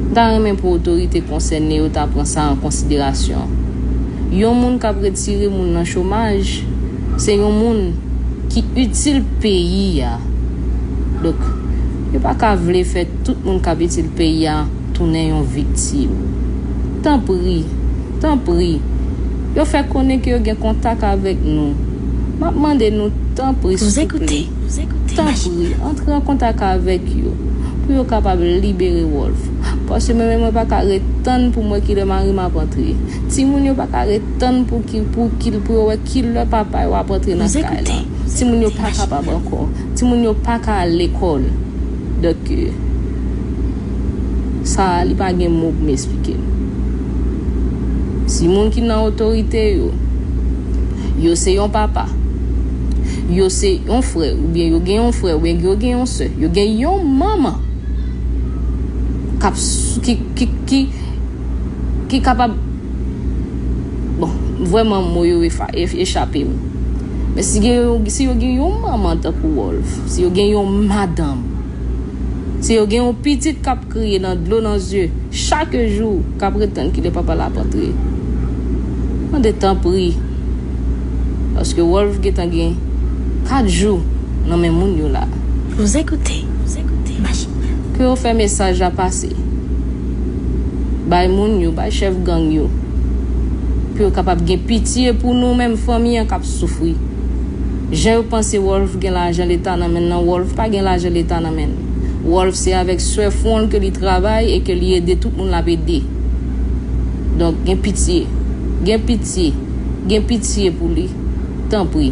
M ta renmen pou otorite konsène yo ta pran sa an konsiderasyon. Yon moun k ap retire moun nan chomaj, se yon moun ki itil peyi a. Donk, yo pa ka vle fè tout moun k ap itil peyi a tounen yon viktim. Tanpri, tanpri, yo fè konnen ke yo gen kontak avèk nou. M ap mande nou tanpri souple. Tanpri, antre an kontak avèk yo pou yo kapab libere Rolf. Paske mwen menm mwen pa ka ret tann pou m wè ki lè mari m ap antre. Timoun yo pa ka ret tann pou pou yo wè ki lè papa yo ap antre nan kay lan. Timoun yo pa kapab ankò. Timoun yo pa ka al lekòl. Dòk, sa a li pa gen mo pou m esplike l. Si moun ki nan otorite yo, yo se yon papa. Yo se yon frè oubyen yo gen yon frè oubyen yo gen yon sè. Yo gen yon manman ki kapab, bon, vrèman mo yo echape m. Men si yo gen yon manman tankou Wolf, si yo gen yon madanm, si yo gen yon pitit k ap. Kriye nan dlo nan zye chake jou kap ret tann kilè papa l ap antre mande tanpri paske Rolph gentan gen 4 jou nan men moun yo la. Vous écoutez Machine nan. Ke yo fè mesaj la pase bay moun yo, bay chèf gang yo pou yo kapab gen pitye pou nou menm fanmi an kap soufri. Jan yo panse Rolph gen lajan leta nan men l lan Rolph pa gen lajan leta nan men l. Rolf se avèk swè fwon l ke li travay e ke li ede tout moun l ap ede. Donk, gen pitye. Gen pitye. Gen pitye pou li. Tanpri.